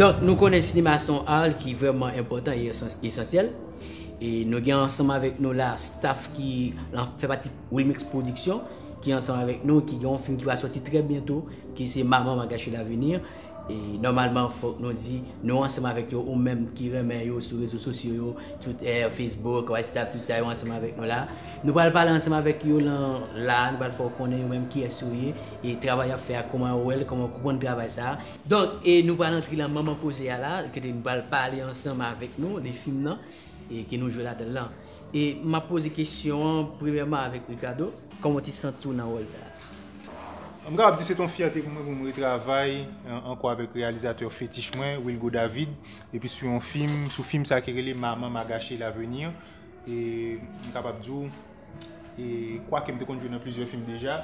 Donk nou konnen sinema se yon art ki vreman enpotan e esansyèl e nou gen ansanm avèk nou la staff ki fè pati Wilmix Production ki ansanm avèk nou ki gen yon fim ki va soti trè byento ki se Maman Magache L'avenir. E nòmalman fòk nou di, nou ansanm avèk yo, ou menm ki renmen yo sou rezo sosyo yo, Twitter, Facebook, WhatsApp, tout sa yo ansanm avèk nou la. Nou pral pale ansanm avèk yo lan la, nou pral fè w konnen yo menm kiyès yo ye, e travay y ap fè a kouman yo wè l, kouman yo konprann travay sa a. Donk, e nou pral antre lan manman koze a la, kote nou pral pale ansanm avèk nou de fim nan, e ke nou jwe ladan l lan. E m ap poze kesyon an premyèman avèk Ricardo. Kòman w te santi w nan wòl sa a? M kapab di se te yon fyète pou mwen pou m retravay ankò avèk reyalizatè fetich mwen, Wilgo David, epi sou yon fim, sou fim sa ki rele Maman m'a gâché l'avenir. E m kapab di w, e kwake m te konn jwe nan plizyè fim deja,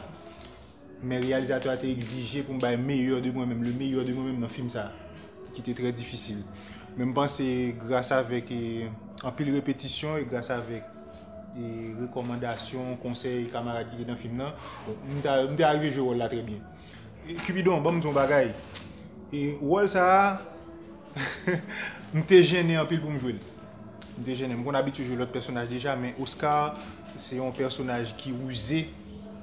men reyalizatè a te egzije pou m bay meyè de mwen menm, le meilleur de moi-même nan fim sa, ki te trè difisil. Men m panse gras avèk anpil repetisyon e gras avèk e rekòmandasyon, konsèy kamarad ki te nan fim nan, m ta m te arive jwe wòl la trè byen. Cupidon, banm di yon bagay. E wòl sa a m te jennen anpil pou m jwe l. M te jennen. M konn abitye jwe lòt pèsonaj deja men Oscar se yon pèsonaj ki rize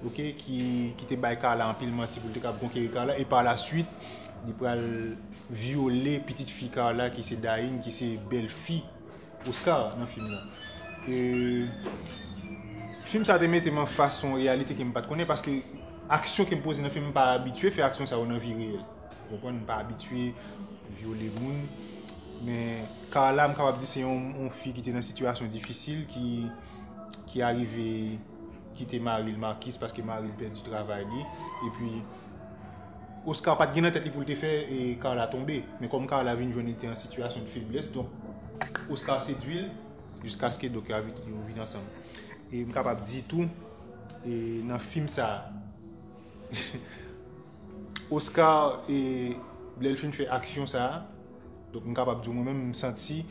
ok ki ki te bay Carla anpil manti pou l te kab konkeri Carla e pa la suit li pral vyole pitit fi Carla ki se Daïn ki se bèl fi Oscar nan fim nan. E fim sa te mete m an fas yon reyalite ke m pa t konnen paske aksyon ke m poze nan fim m pa abitye fè aksyon sa yo nan vi reyèl. Ou konprann? M pa abitye vyole moun. Men Carla m kapab di se yon fi ki te nan sitiyasyon difisil ki arive kite mari l Marcus paske mari l pèdi travay li. E pi. Oscar pat gen nan tèt li poul te fè Carla tonbe, men kòm Carla vin jwenn li te an sitiyasyon de feblès donk Oscar sedwi l jiskaske donk yo vin ansanm. E m kapab di tou nan fim sa Oscar lè l fin fè aksyon sa donk m kapab di mwen menm m santi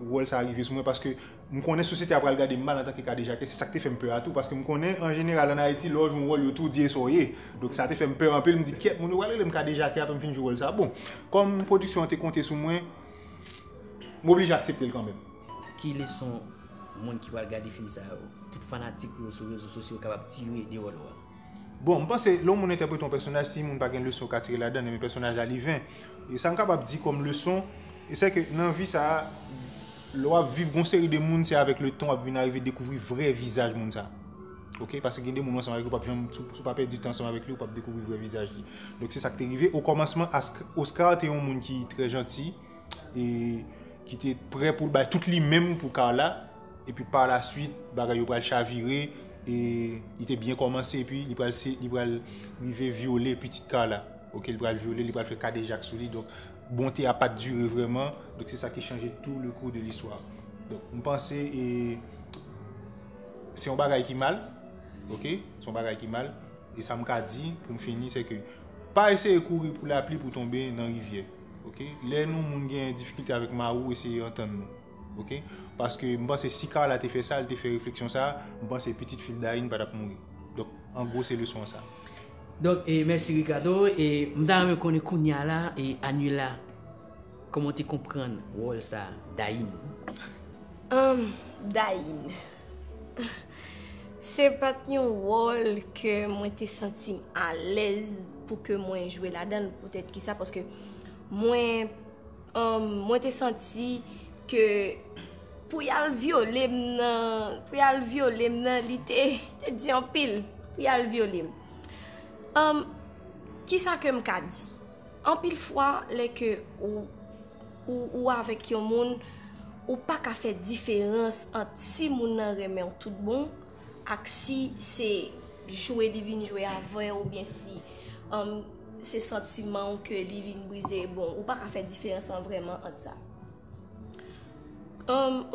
wòl sa rive sou mwen paske M konnen sosyete a pral gade m mal antanke kadejake, se sa k te fè m pè a tou, paske m konnen an jeneral an Ayiti lè w jwe yon wòl yo tou di e sa w ye. Donk sa te fè m pè anpil, m di kyèt moun yo pral rele m kadejake apre m fin jwe wòl sa. Bon, kòm pwodiksyon an te konte sou mwen, m oblije aksepte l kanmenm. Ki leson moun ki pral gade fim sa yo, tout fanatik ou yo sou rezo sosyo kapab tire de wòl ou a? Bon, m panse, lè yon moun entèprete yon pèsonaj, si moun pa gen leson yo ka tire ladan, men pèsonaj la li ven. E sa m kapab di kòm leson, e sè ke nan vi sa a, lè w ap viv gon seri de moun, se avèk letan w ap vin arive dekouvri vrè vizaj moun sa a. Ok, paske gen de moun ou ansanm avèk yo, ou pap janm, si w pa pèdi tan ansanm avèk li, ou pap dekouvri vrè vizaj li. Donk se sa k te rive. Okòmansman, Ask, Oscar te yon moun ki trè janti e ki te prè pou l bay tout li menm pou Carla. Epi par la suite bagay yo pral chavire e li te byen komanse epi li pral se li pral rive vyole pitit Carla ok li pral vyole li pral fè kadejak sou li donk bonte a pat dire vrèman donk se sa ki chanje tou le kou de listwa donk m panse e se yon bagay ki mal ok se yon bagay ki mal e sa m ka di pou m fini se ke pa eseye kouri pou lapli pou tonbe nan rivyè ok lè nou moun gen difikilte avèk ma ou eseye antann nou. Ok paske m panse si Carla te fè sa li te fè refleksyon sa m panse pitit fil Dayne patap mouri donk an gwo se leson an sa. Donk mèsi Ricardo e m ta renmen konnen kounya la e Anila kòman w te konprann wòl sa Dayne. Humm Dayne se pat yon wòl ke mwen te santi m alèz pou ke mwen jwe ladan l poutèt kisa paske mwen Mwen te santi ke pou y al vyole m nan, pou y al vyole m nan, li te di anpil pou y al vyole m. Ki sa ke m ka di? Anpil fwa, lè ke ou avèk yon moun, ou pa ka fè diferans ant si moun nan renmen ou tout bon, ak si se jwe li vin jwe avèw ou byen si se santiman ou ke li vin brize bon ou pa ka fè diferans lan vreman ant sa.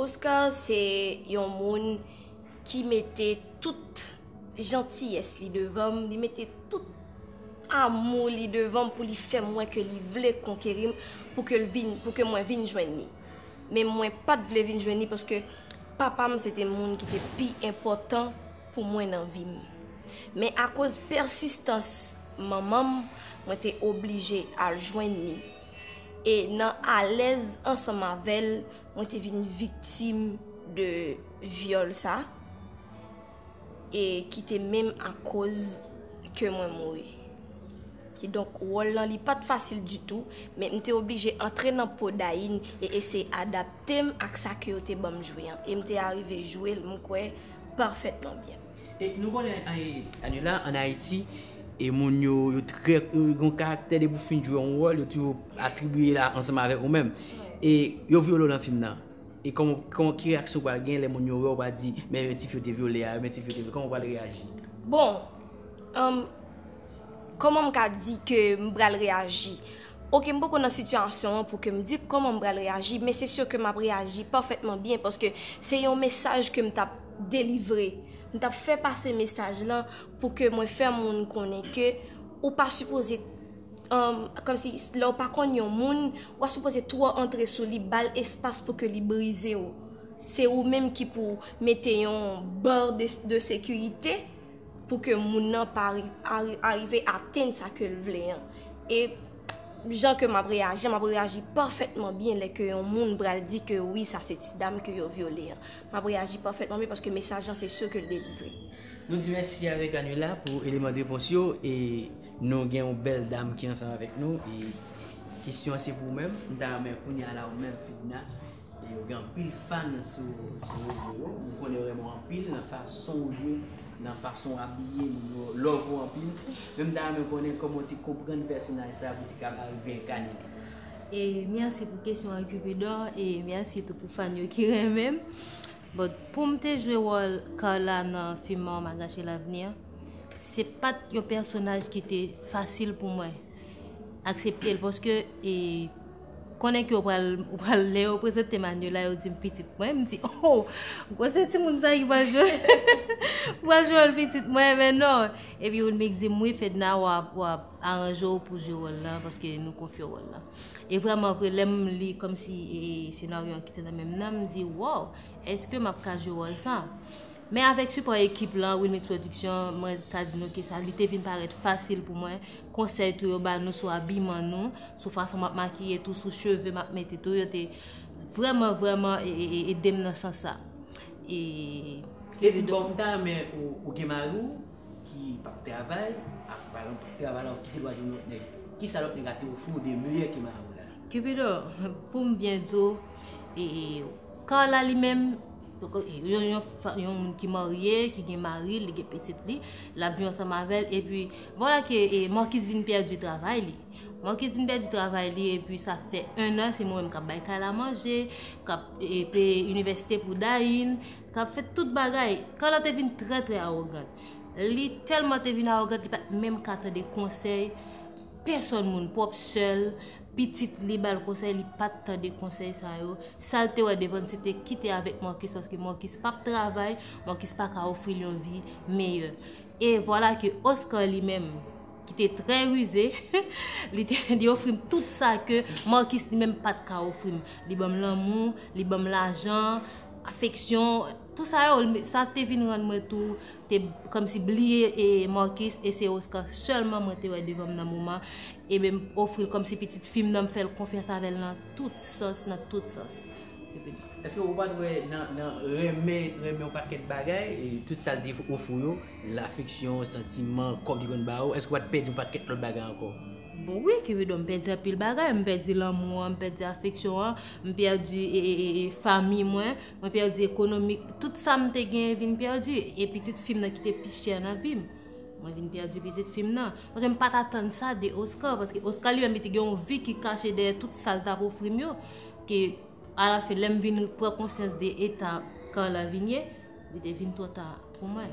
Oscar se yon moun ki mete tout jantiyès li devanm, li mete tout amou li devanm pou li fèm wè ke li vle konkerim pou ke mwen vin jwenn li. Men mwen pat vle vin jwenn li paske. Papa m se te moun ki te pi enpòtan pou mwen nan vi m. Men akoz pèsistans manman m, mwen te oblije al jwenn ni. E nan alèz ansanm avè l, mwen te vin viktim de vyòl sa. e ki te menm akoz ke mwen mouri. Ki donk, wòl lan li pat fasil ditou, men m te oblije antre nan po Dayin e eseye adapte m ak sa ke yo te banm jwe an. E m te arive jwe l, m kwè, pafètman byen. E nou konnen Anela an Ayiti, e moun yo, yo trè, yo gen yon karaktè depi ou fin jwe yon wòl, yo toujou atribiye la ansanm avèk ou menm. E yo vyole w lan fim nan? E kòman, ki reyaksyon ou pral gen lè moun yo wè ou pa di, men ti fi yo te vyole a, men ti fi yo te vyole, kòman ou pral reyaji? Bon, um, kòman m ka di ke m pral reyaji? Ok, m poko nan sitiyasyon an pou ke m di kòman m pral reyaji, men se si ke m ap reyaji pafètman byen paske se yon mesaj ke m t ap delivre. M t ap fè pase mesaj lan pou ke mwen fè moun konnen ke ou pa sipoze. Komsi lè ou pa konn yon moun, ou pa sipoze twò antre sou li, ba l espas pou ke li brize ou. Se ou menm ki pou mete yon bar de sekirite pou ke moun nan pa arive atenn sa ke l vle an. E jan ke m ap reyaji, m ap reyaji pafètman byen lè ke yon moun pral di ke wi sa se ti dam ke yo vyole an. M ap reyaji pafètman byen paske mesaj lan se si ke l delivre. Nou di mèsi avèk Annuela pou eleman de repons yo. Nou gen yon bèl dam ki ansanm avèk nou e kesyon an se pou ou menm, m ta renmen kounya la ou menm Fedna e ou gen anpil fan sou rezo yo, m konnen yo renmen w anpil nan fason ou jwe, nan fason ou abiye, moun yo love ou anpil, men m ta renmen konnen kòman ou te konprann pèsonaj sa pou w te kapab arive enkane li. E mèsi pou kesyon an Cupidon e mèsi tou pou fan yo ki renmen m. But poum te jwe wòl Carla nan film an on m'a gâché l'avenir se pat yon pèsonaj ki te fasil pou mwen aksepte l paske e konnen ke ou pral ou pral lè yo prezante Manuela yo dim pitit mwen m di oh gwosè timoun sa ki pral jwe pral jwe wòl pitit mwen men non epi Wilmix dim wi Fedna wap wap aranje w pou jwe wòl lan paske nou konfye w wòl lan. E vrèman vre lèm li kòmsi e senaryo an ki te nan menm nan m di wòw eske map ka jwe wòl sa. Men avèk sipò ekip lan Wilmix Production mwen ka di nou ke sa li te vin parèt fasil pou mwen, konsèy tou yo ba nou sou abiman nou, sou fason map makiye tou, sou cheve map mete tou yo te vrèman vrèman edem nan sans sa. E. Epi bòw m ta renmen ou gen mari w. ki pap travay ak pa ekzanp travay la ki gen dwa jwenn lòt nèg. Kisa lòt nèg a te ofri w de miyò ke mari w la? Kipido, pou m byen di w, e, Carla li menm, yon, yon fa, yon moun ki marye, ki gen mari l, li gen pitit li, l ap viv ansanm avè l, epi, vwala ke e Marcus vin pèdi travay li. Marcus vin pèdi travay li epi sa fè ennan se mwen menm k ap bay kay la manje, k ap e peye inivèsite pou Dayne. K ap fè tout bagay. Carla te vin trè trè awogant. Li tèlman te vin awogant li pa t menm ka tande konsèy pèsòn moun. Pwòp sè l, pitit li ba l konsèy, li pa t tande konsèy sa yo. Sa l te wè devan l se te kite avèk Marcus paske Marcus pa p travay, Marcus pa ka ofri l yon vi meyè. E vwala ke Oscar li menm ki te trè rize, li te li ofri m tout sa ke Marcus li menm pa t ka ofri m. Li ban m lanmou, li ban m lajan. afeksyon, tout sa yo, sa te vin rann mwen tou te kòmsi bliye e Marcus e se Oscar sèlman mwen te wè devan m nan moman e menm ofri l kòmsi pitit fi m nan m fè l konfyans avè l nan tout sans, nan tout sans. Èske ou pa t wè nan renmen, renmen yon pakèt bagay, tout sa l te ofri w yo, lafeksyon, santiman, kòb li konn ba ou, èske ou pa t pèdi yon pakèt lòt bagay ankò? Bon wi Cupidon m pèdi anpil bagay, m pèdi lanmou an, m pèdi afeksyon an, m pèdi fanmi mwen, mwen pèdi ekonomi, tout sa m te genyen vin pèdi e pitit fi m nan ki te pi chè nan vi m, mwen vin pèdi pitit fi m nan. Paske m pa t atann sa de Oscar, paske Oscar li menm li te gen yon vi ki kache dèyè tout sa l t ap ofri m yo, ke alafen lè m vin pran konsyans de eta Carla vin ye, Li te vin twò ta pou mwen.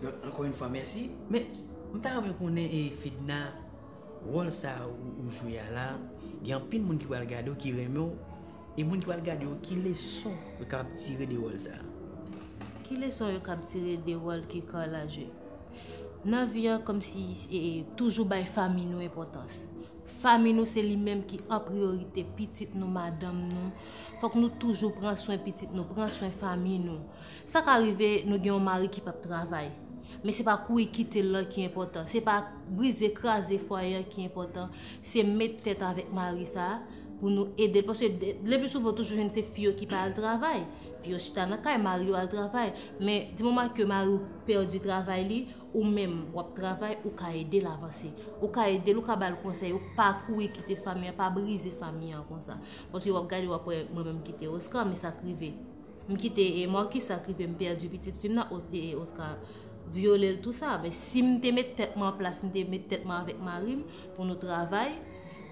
Donk ankò yn fwa mèsi. Men m ta renmen konnen e Fedna wòl sa ou jwe a la gen anpil moun ki pral gadew ki renmenw e moun ki pral gade yo ki leson yo kapab tire de wòl sa? Ki leson yo kab tire de wòl ke Carla jwe? Nan vi an kòmsi e toujou bay fanmi nou enpòtans. Fanmi nou se li menm ki an priyorite pitit nou, madanm nou. Fòk nou toujou pran swen pitit nou, pran swen fanmi nou. Sa ka rive nou gen yon mari ki pap travay. Men se pa kouri kite l lan ki enpòtan. Se pa brize, kraze fwaye an ki enpòtan. Se met tèt avèk mari sa a pou nou ede l. Paske lepi souvan ou toujou jwenn se fi yo ki pa al travay. Fi yo chita nan kay, mari yo al travay. Men di moman ke mari ou pèdi travay li. Ou menm wap travay ou ka edel avanse. Ou ka edel ou ka bal konsèy ou pa kouri kite fanmi an pa brize fanmi an konsa. Paske wap gade wap wè mwen menm kite Oscar men sak rive. M kite e Marcus sak rive m pèdi pitit fim nan e Oscar vyolel tou sa. Men sim te met tèt mwen an plas m te met tèt mwen avèk marim pou nou travay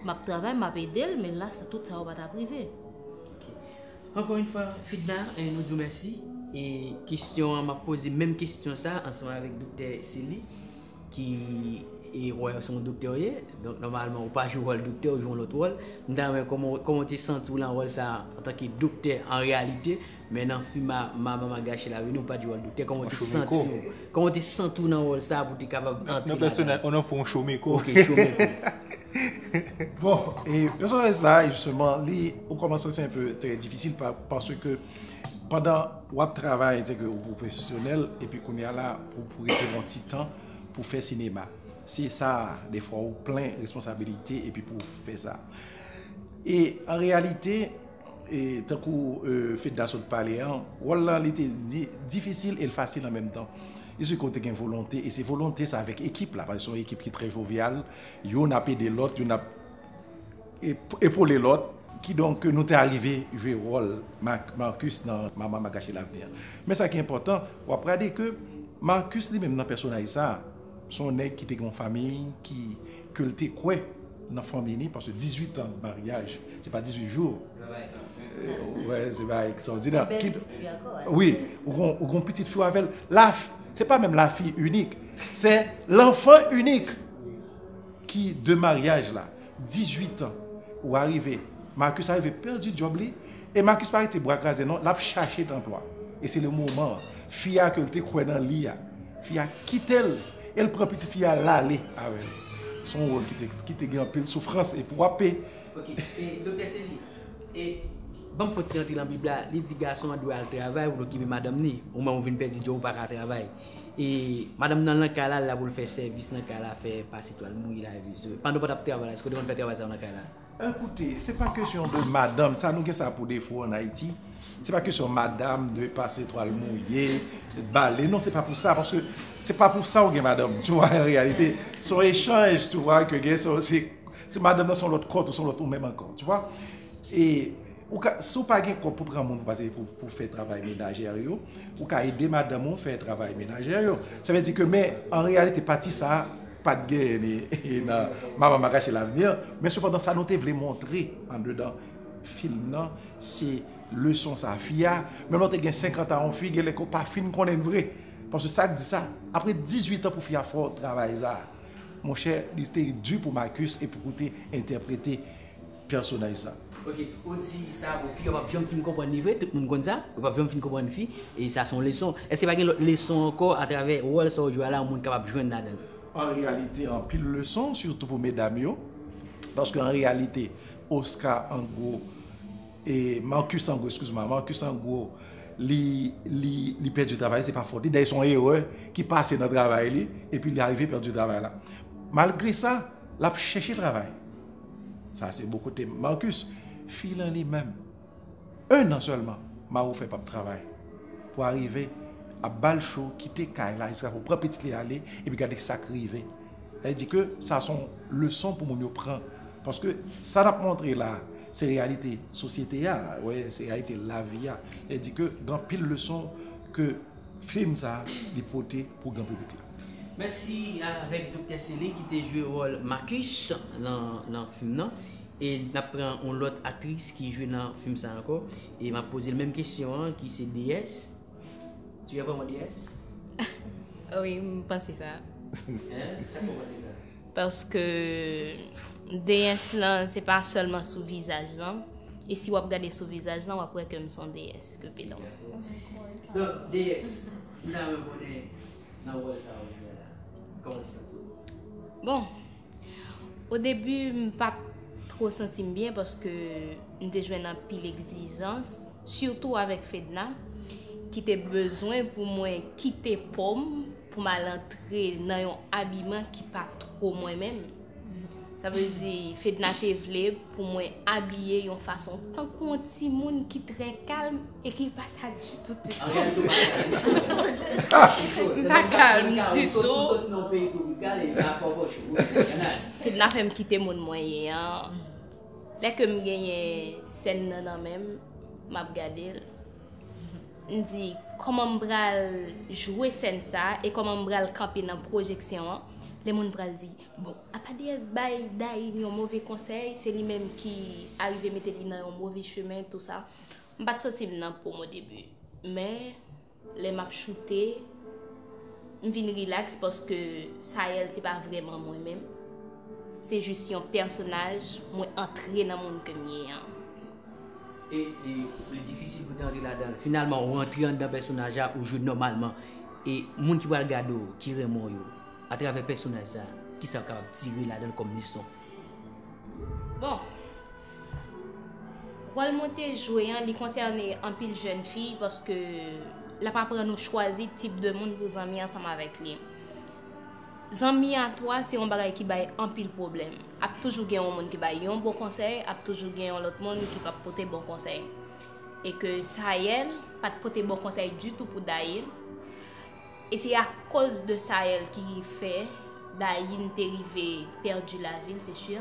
map travay map edel men la tout sa yo patap rive. Ankò yn fwa Fedna nou diw mèsi e kesyon an map poze menm kesyon sa ansanm avèk doktè Sely ki e wè se yon doktè ou ye donk nòmalman ou pa jwe wòl doktè ou jwe yon lòt wòl m ta renmen koman ou koman ou te santi w lan wòl sa antanke doktè an reyalite men nan fim a Mama Magashi la vini ou pat jwe wòl doktè koman ou te santi w Kòman w te santi w nan wòl sa a pou w te kapab antre ladan? Nan pèsonaj, onon pou yon chomeko. Ok, chomeko. Bon, e pèsonaj sa a, jisteman, li, o kòmansman se anpe trè difisil paske pandan w ap travay, se ke ou pwofesyonèl, epi kounye a la, pou w rete yon ti tan pou w fè sinema. Se sa a, defwa ou plen responsabilite epi pou w fè sa. E, an reyalite, E tankou Fedna sot pale an, wòl lan li te difisil e l fasil an menm tan. Li se kote gen volonte e se volonte sa avèk ekip la, paske se yon ekip ki trè jovyal, youn ap ede lòt, youn ap epole lòt. Kidonk nou te arive jwe wòl Marcus nan Mama m'a gache lavni an. Men sa ki enpòtan, w ap gade ke Marcus li menm nan pèsonaj sa, se yon nèg ki te gen yon famiy ki. ke l te kwè nan fanmi li paske 18 an maryaj se pa 18 jou wè se bagay ekstòdinè wi ou gon pitit fi w avè l la se pa menm la fi inik se l anfan inik ki de maryaj la 18 an ou arive Marcus arive pèdi djòb li E Marcus pa rete bra kraze non lap chache tanpwa e se le moman fi a ke l te kwè nan li a fi a kite l e l pran pitit fi a lale avè l se yon wòl ki te gen anpil soufrans epi wap pe Ok e Doktè Sely e banm fon ti antre nan bib la li di gason an dwe al travay pou l okipe madanm ni ou menm ou vin pèdi djòb ou pa ka travay e madanm nan lan kay la l la pou l fè sèvis nan kay la fè pase twal mouye lave zo pandan w pa tap travay la èske w te konn fè travay sa yo nan kay la? Ekoute, se pa kesyon de madanm, sa nou gen sa pou defo an Ayiti, se pa kesyon madanm dwe pase twal mouye, bale, non se pa pou sa, paske se pa pou sa ou gen madanm, tu wè, an reyalite, son echanj, tu wè, ke gen, se madanm nan son lòt kòt ou son lòt ou menm ankò, tu wè, e, ou ka, si ou pa gen kòb pou pran moun pou pase, pou fè travay menajè yo, ou ka ede madanm ou fè travay menajè yo, sa vle di ke men, an reyalite pati sa. Pa t genyen ni nan Mama Makache Lavni an, men sepandan sa nou te vle montre andedan fim nan se leson sa fi a, menm lè w te gen senkantan yon fi genlè ke w pa fin konnen l vre. Paske sa k di sa, apre dizuitan pou fi a fè yon travay sa, monchè li te di pou Marcus e pou koute entèprete. personaj sa. Ok ou di sa pou fi yo pap janm fin konprann li vre tout moun konn sa yo pap janm fin konprann fi e sa son leson èske pa gen lòt leson ankò atravè wòl sa ou jwe a la yon moun kapab jwenn ladann. An reyalite anpil leson sitou pou medam yo paske an reyalite Osca an gwo e Marcus an gwo eskize mwa Marcus an gwo li li li pèdi travay li se pa fòt li dèyè son erè ki pase nan travay li epi li arive pèdi travay la malgre sa lap chèche travay. Sa se bon kote m. Marcus, fi lan li menm. 1 an sèlman Maroufè pap travay pou arive ap bal cho kite kay la jiska pou pran pitit li ale epi gade sak rive. Sa vle di ke sa son leson pou moun yo pran paske sa nap montre la se reyalite sosyete a, se reyalite lavi a. Sa vle di ke gen anpil leson ke Film sa li pote pou gran piblik la. Mèsi avèk Doktè Sely ki te jwe wòl Marcus nan fim nan e nap pran yon lòt aktris ki jwe nan fim sa ankò e map pozel menm kesyon an ki se DS tu es vraiment DS? Wi m panse sa. Hein? Sa fè w panse sa? Paske deyès lan se pa sèlman sou vizaj lan. E si wap gade sou vizaj lan wap wè ke m son deyès ke pe don. Don, deyès, m ta renmen konnen nan wòl sa wap jwe la, kòman ou santi w? Bon, o debi m pat tro santi m byen paske m te jwenn anpil egzijans, sitou avèk Fedna, ki te bezwen pou mwen kite po m pou m al antre nan yon abiman ki pa two mwen menm. Sa vle di, Fedna te vle pou mwen abiye yon fason tankou yon timoun ki trè kalm e ki pa sa ditou tout. An reyalite ou pa sa ditou. M pa kalm ditou. Ou soti nan yon peyi twopikal e sa fò gòch ou. Fedna fè m kite moun mwen ye an. Lè ke m genyen sèn nan nan men m, m ap gade l. M di, kòman m pral jwe sèn sa a e kòman m pral kanpe nan pwojeksyon an? Lè moun pral di, bon, apa Deyès bay Dayim yon move konsèy, se li menm ki arive mete li nan yon move chemen, tou sa. M pa t santi m nan po m odebi. Men, lè m ap choute, m vin rilaks paske Sayèl se pa vrèman mwen menm. Se jis yon pèsonaj mwen antre nan moun ke m ye an. e li difisil pou te antre ladanl finalman ou antre anndan pèsonaj la ou jwe nòmalman e moun ki pral gade ou ki renmen w yo atravè pèsonaj sa kisa yo kapab tire ladanl kòm leson. Bon Wòl mwen te jwe an li konsène anpil jèn fi paske lap aprann ou chwazi tip de moun pou zanmi ansanm avèk li. Zanmi a 3 se yon bagay ki bay anpil pwoblèm. Ap toujou gen yon moun ki bay yon bon konsèy, ap toujou gen yon lòt moun ki pap pote bon konsèy. E ke Sayèl pat pote bon konsèy ditou pou Dayin. E se akoz de Sayèl ki fè Dayin te rive pèdi lavi l se si.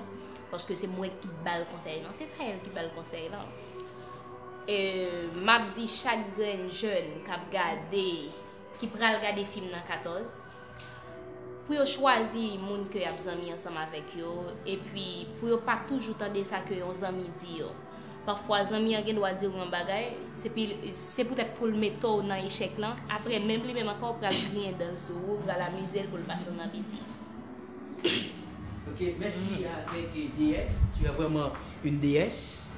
Paske se mwen ki bal konsèy lan. Se Sayèl ki bal konsèy lan. E map di chak grenn jèn kap gade, ki pral gade fim nan 14. pou yo chwazi moun ke yap zanmi ansanm avèk yo, epi pou yo pa toujou tande sa ke yon zanmi di yo. Pafwa zanmi an gen dwa di ou yon bagay, se pou tèt poul mete ou nan echèk lan, apre menm li menm ankò pral griyen dan l sou ou, pral amize l poul pase ou nan betiz. Ok mèsi avèk DS. Tu as vraiment une DS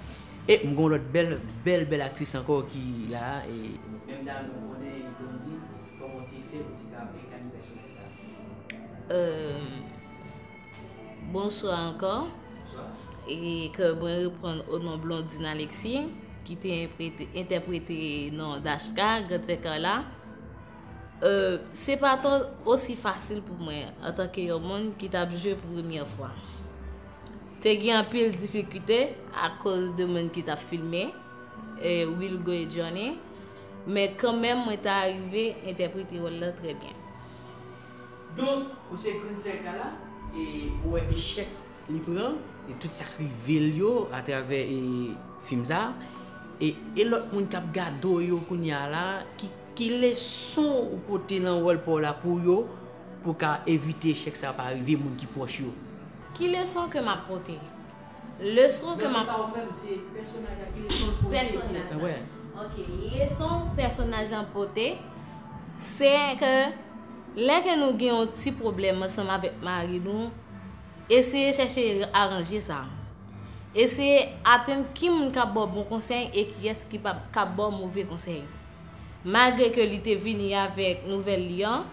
e m gen yon lòt bèl bèl bèl aktris ankò ki la e. Menm dam nan konnen blondine. Koman w te fè pou w te ka enkane pèsonaj sa a? Bonswa ankò. Bonswa. E ke mwen reponn o non Blondine Alexis, ki te entèprete non Dashka, Grand Sè Carla. Se pa tan osi fasil pou mwen, an tanke yon moun ki tap jwe pou premye fwa. Te gen anpil difikite, akoz de moun ki tap filme, Wilgo e Johnny. Men kanmenm mwen ta arive entèprete wòl la trè byen. Donk, ou se Princelle Kala e ou wè echèk li pran e tout sa k rive l yo atravè fim sa a e lòt moun k ap gade w yo kounye a la, ki leson ou pote nan wòl pa w la pou yo pou w ka evite echèk sa a pa rive moun ki pwòch yo? Ki leson ke m ap pote? Leson ke map. Mèsi pa ou fèm se pèsonaj la ki leson l pote. Pèsonaj la. Wè. Ok leson pèsonaj lan pote se ke lè ke nou gen yon ti pwoblèm ansanm avèk mari nou eseye chèche aranje sa. Eseye atenn ki moun kap ba w bon konsèy e kiyès ki pap kap ba w move konsèy. Malgre ke li te vini avèk nouvèl li an,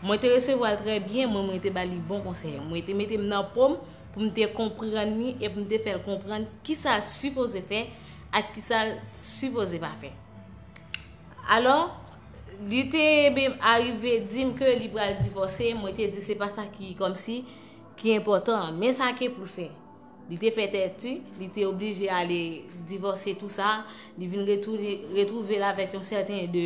mwen te resevwa l trè byen, mwen mwen te ba li bon konsèy. Mwen te mete m nan po m. pou m te konprann li e pou m te fè l konprann ki sa l sipoze fè ak ki sa l sipoze pa fè. Alò, li te menm arive di m ke li pral divòse, mwen te di se pa sa ki kòm si ki enpòtan, men sa ke pou l fè. Li te fè tèti, li te oblije ale divòse tou sa, li vin retouve l avèk yon sèten de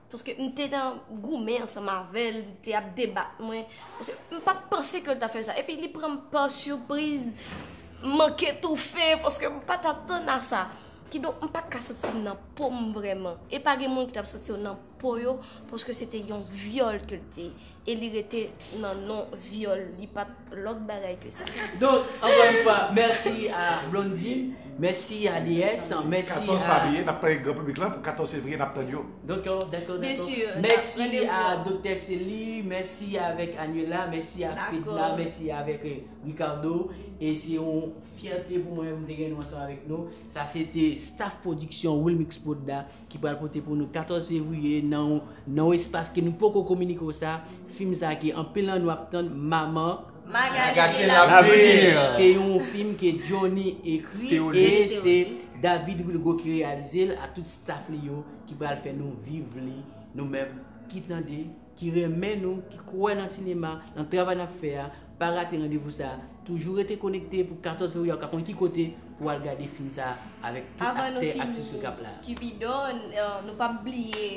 Paske m te nan goumen ansanm avè l, m te ap debat mwen. M pa t panse ke l ta fè sa. Epi li pran m pa sipriz. M manke toufe paske m pa t atann a sa. Kidonk m pa t ka santi m nan po m vrèman. E pa gen moun ki t ap santi yo nan po yo paske se te yon vyòl ke l te. E li rete nan non vyòl li pat lòt bagay ke sa. Donk ankò yon fwa mèsi a Blondine, mèsi a DS, mèsi a. 14 pa bliye nap pale gran piblik lan pou 14 fevriye nap tann yo. Dòkò dakò dakò mèsi a Doktè Cely, mèsi avèk Anuela, mèsi a Fedna, mèsi avèk Ricardo e se yon fyète pou mwen pou m te gen nou ansanm avèk nou. Sa se te staff pwodiksyon Wilmixprod la. ki pral pote pou nou 14 fevriye nan yon espas ke nou poko kominike w sa, fim sa ke anpil nan nou ap tann Maman Magalie Lapriyè. Se yon fim ke Johnny ekri e se David Wilgo ki reyalize l ak tout staff li yo ki pral fè nou viv li nou menm ki tande. ki renmen nou, ki kwè nan sinema, nan travay n ap fè a, pa rate randevou sa a. Toujou rete konekte pou 14 fevriye a ou ka konn ki kote pou w al gade fim sa a avèk tout aktè, aktris yo k ap la. Avan nou fini, Kipido, nou p ap bliye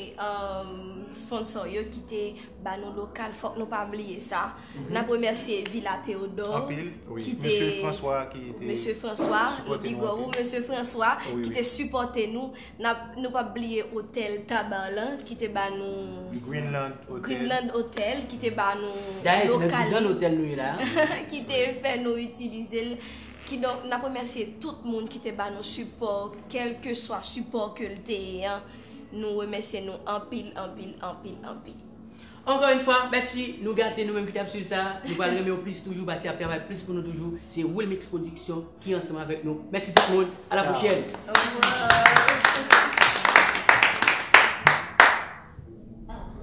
sponsò yo ki te ba nou lokal, fòk nou pa bliye sa. N ap remèsye Vila Teodò, ki te, Mesye Franswa, Mesye Franswa, nou di gwo wou Mesye Franswa, ki te sipòte nou Nap nou pap bliye Hotel Tabarlan ki te ba nou Greenland Hotel Greenland Hotel ki te ba nou Dayè se nan Greenland Hotel nou ye la a ki te fè nou itilize l kidonk nap remèsye tout moun ki te ba nou sipò kelke swa sipò ke l te ye an nou remèsye nou anpil anpil anpil anpil. Ankò yn fwa mèsi nou gate nou menm ki tap swiv sa nou pral renmenw plis toujou pase ap travay plis pou nou toujou se wilmix production ki ansanm avèk nou mèsi tout moun a la pwochèn.